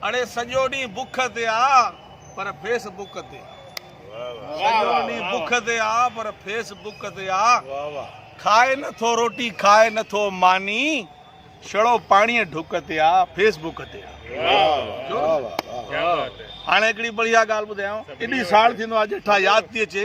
اڙي سڄو ڏينهن بک تي آ پر فيس بڪ تي سڄو ڏينهن بک تي آ پر فيس بڪ تي آ کائي نٿو روٽي کائي نٿو ماني شڙو پاڻي ڍڪ تي آ فيس بڪ تي آ هاڻي هڪڙي بڙيا ڳالهه ٻڌايان ايڏي ساڙ ٿيندو آ جيٺا ياد ٿي اچي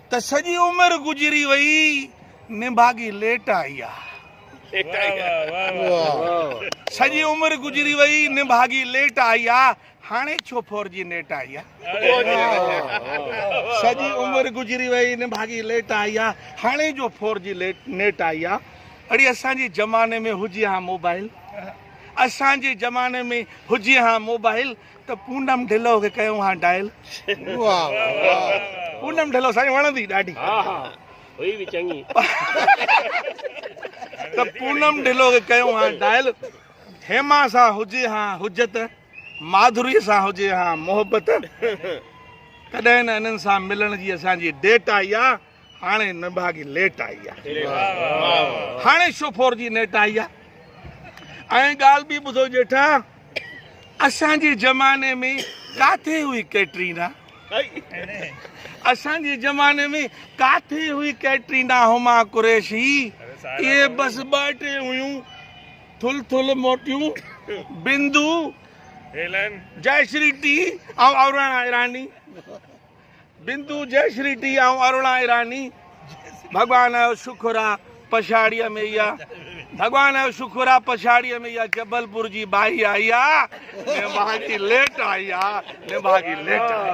ته سڄي عمر گذري وئي نڀاڳي ليٽ آئي آ. سڄي عمر گذري وئي نڀاڳي ليٽ آئي آ هاڻي ڇو فور جي نيٽ آئي آ. سڄي عمر گذري وئي نڀاڳي ليٽ آئي آ هاڻي جو فور جي نيٽ آئي آ اڙي اسان جي زماني ۾ هجي ها موبائل اسان جي زماني ۾ هجي ها موبائل. ته پونم ڍلو کي ڪيون ها ڊائل. پونم ڍلو سائين وڻندي ڏاڍي. ها ها هئي به چڱي. ته پونم ڍلو کي ڪيون ها ڊائل. هيما سان هجي ها حجت. ماڌوري سان هجي ها محبت. ڪڏهن نه انهن سان ملڻ جي اسان جي ڊيٽ آئي آ. هاڻي نڀاڳي ليٽ آئي آ. هاڻي شوفور جي نيٽ آئي آ. ۽ ڳالهه ٻي ٻڌو ڄيٺا، اسان جي زماني ۾ ڪاٿي هئي ڪيٽرينا؟ اسان جي زماني ۾ ڪاٿي هئي ڪيٽرينا هما قريشي؟ اهي بس ٻه ٽي هيون، ٿل ٿل موٽيون، بندو، جئشري ٽي ۽ اوراڻا ايراني. بندو جئي شري ٽي آئون اروڙان ايراني ڀڳوان جو شڪر آ پڇاڙيء ۾ اها ڀڳوان جو شڪر آ پڇاڙيء ۾ اها جبلپور جي ٻائي آئي آ نڀاڳي ليٽ آئي آ نڀاڳي ليٽ آئي